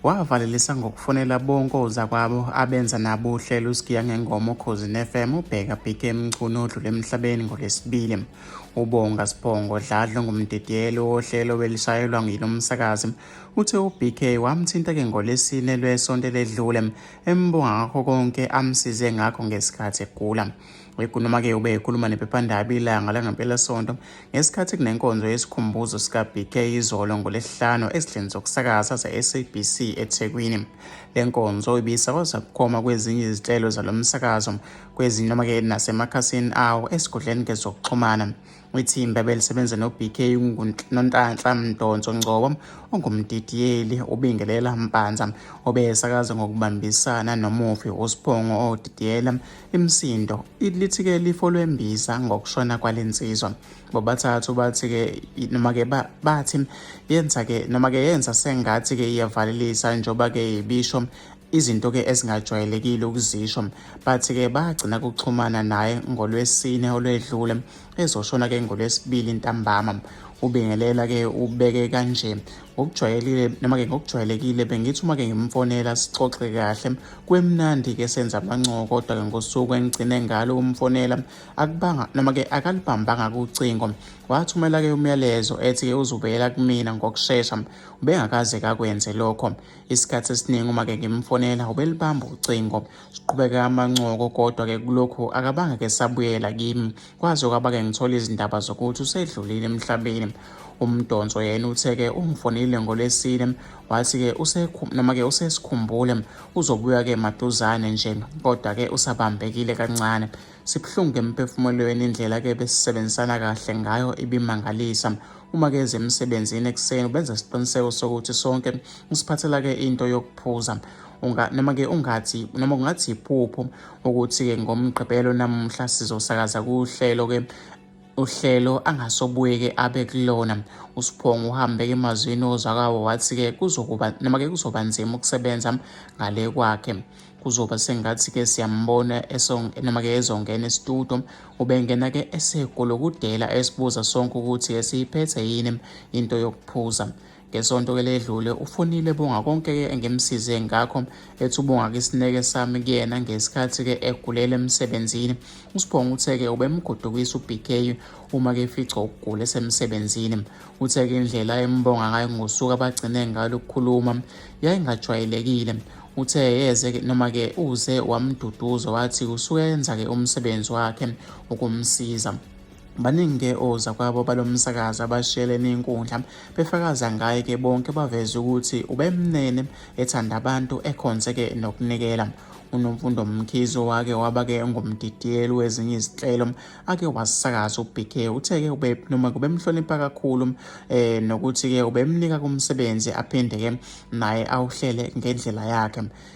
wavalelisa ngokufonela bonke ozakwabo abenza nabo uhlelo usigiya ngengoma ukhozi ne-fm ubheka bhike emchunu odlule emhlabeni ngolesibili ubonga sibhongo dladlo ngumdidiyelo wohlelo welishayelwa nguyilo msakazi uthe ubk wamthinta-ke ngolesine lwesonto eledlule embonga ngakho konke amsize ngakho ngesikhathi egula wegunoma-ke ube ekhuluma nephephandaba ilanga langempelasonto ngesikhathi kunenkonzo yesikhumbuzo sikabk izolo ngolesihlanu ezidleni zokusakaza ze-sabc ethekwini le nkonzo ibisakwaza bukhoma kwezinye izinhlelo zalo msakazo kwezinye noma-ke nasemakhasini awo esigodleni ngezokuxhumana Ithimba belisebenza noBK Nontanhla Mdonso Ngcobo ongumdidiyeli uBingelela Mpanza obesakaza ngokubambisana nomufi uSiphongo odidiyela imsindo lithi-ke lifo lwembiza ngokushona kwale nsizwa bobathathu bathi-ke noma-ke bathi yenza-ke noma-ke yenza sengathi-ke iyavalelisa njengoba-ke ibisho izinto-ke ezingajwayelekile ukuzisho bathi-ke bagcina kuxhumana naye ngolwesine olwedlule ezoshona ke ngolwesibili ntambama ubingelela ke ubeke kanje ngokujwayelile noma ke ngokujwayelekile bengithi uma ke ngimfonela sixoxe kahle kwemnandi ke senza amancoko kodwa ke ngosuku engigcine ngalo umfonela akubanga noma ke akalibambanga kucingo wathumela ke umyalezo ethi ke uzubuyela kumina ngokushesha ubengakaze kakwenze lokho isikhathi esiningi uma ke ngimfonela ubelibamba ucingo Siqhubeke amancoko kodwa-ke kulokhu akabange ke sabuyela kimi kwaze kwaba-ke ngithola izindaba zokuthi usedlulile emhlabeni umdonso yena uthe-ke ungifonile ngolwesine wathi-ke noma-ke usesikhumbule uzobuya-ke maduzane nje kodwa-ke usabambekile kancane sibuhlungu emphefumulweni indlela-ke besisebenzisana kahle ngayo ibimangalisa uma-ke eze emsebenzini ekuseni ubenza isiqiniseko sokuthi sonke usiphathela-ke into yokuphuza unga noma ke ungathi noma kungathi iphupho ukuthi ke ngomgqibelo namuhla sizosakaza kuhlelo ke uhlelo angasobuyeke abe kulona usiphongo uhambe ke emazwini ozakawo wathi ke kuzokuba noma ke kuzoba nzima ukusebenza ngale kwakhe kuzoba sengathi ke siyambona noma ke ezongena esitudo ubengena ke esegolokudela esibuza sonke ukuthi esiyiphethe yini into yokuphuza Ngesonto ke ledlule ufunile bonga konke ke engimsize ngakho ethi ubonga kisineke sami kuyena ngesikhathi ke egulele emsebenzini usibonga uthe ke ubemgodukisa uBK uma ke fica ukugula esemsebenzini uthe ke indlela embonga ngayo ngosuka bagcine ngalo ukukhuluma yayingajwayelekile uthe yeze noma ke uze wamduduza wathi usuyenza ke umsebenzi wakhe ukumsiza Baningi-ke ozakwabo balo msakazi abashiyelene inkundla befakaza ngaye-ke bonke baveze ukuthi ubemnene ethanda abantu ekhonze-ke nokunikela unomfundo mkhizo wake waba-ke ngumdidiyeli wezinye izinhlelo ake wasakaza ubk uthe-ke ube noma kubemhlonipha kakhulu um nokuthi-ke ubemnika kumsebenzi aphinde-ke naye awuhlele ngendlela yakhe